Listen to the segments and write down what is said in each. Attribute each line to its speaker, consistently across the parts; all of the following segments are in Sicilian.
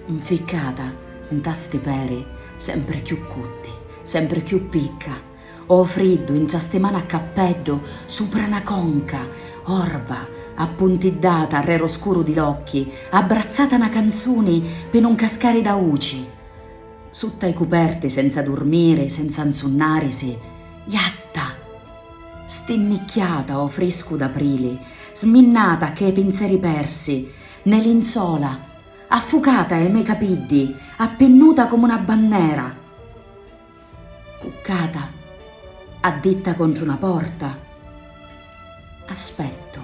Speaker 1: Nficcata nta sti peri sempri cchiù cutti, sempri cchiù picca, o friddu intra sti mani a cappeddu supra na conca, orva, appuntiddata arrè ro scuru di l'occhi, abbrazzata na canzuni pi nun cascari d'auci. Sutta i cuperti senza durmiri, senza nsunnarisi, jatta! Stinnicchiata o friscu d'aprili, sminnata cchê pinzeri persi, 'ne linzola, affucata e' me' capiddi, appinnuta comu 'na bannera, cuccata, additta contru 'na porta, aspettu,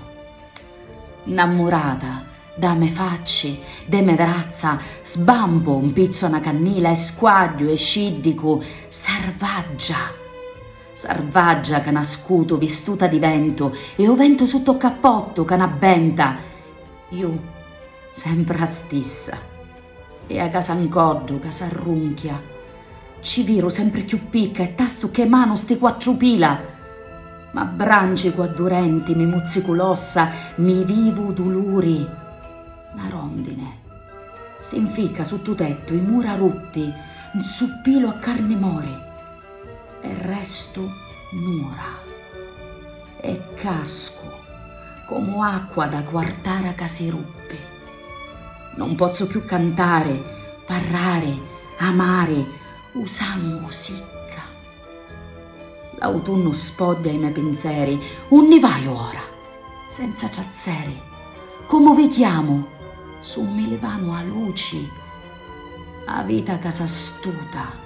Speaker 1: 'nnammurata, da' me' facci, de' me' vrazza, sbampu, 'mpizzo 'na cannila e squagghiu e sciddicu, sarvaggia, sarvaggia ca nascutu vistuta di ventu e 'o ventu sutta 'o cappottu ca 'n'abbenta Ju, sempr' 'a stissa. E 'a casa 'ncoddu ca s'arrunchia. Ci viru sempr' chiù picca e tastu ch'e manu sti quattru pila. M'abbranchicu a du' renti, mi muzzicu l'ossa, mi vivu 'u duluri. Na rondine. Si 'nficca suttu tettu, i mura rutti, 'nzuppilu a carni mori. e restu nura e cascu comu acqua da quartara ca si ruppi. Non pozzu chiù cantari, parrari, amari, u sangu sicca. L'autunnu spoddia i me pinzeri, unni vaiu ora? Senza ciazzeri, comu vi chiamu, su mi livanu a luci, a vita ca s'astuta.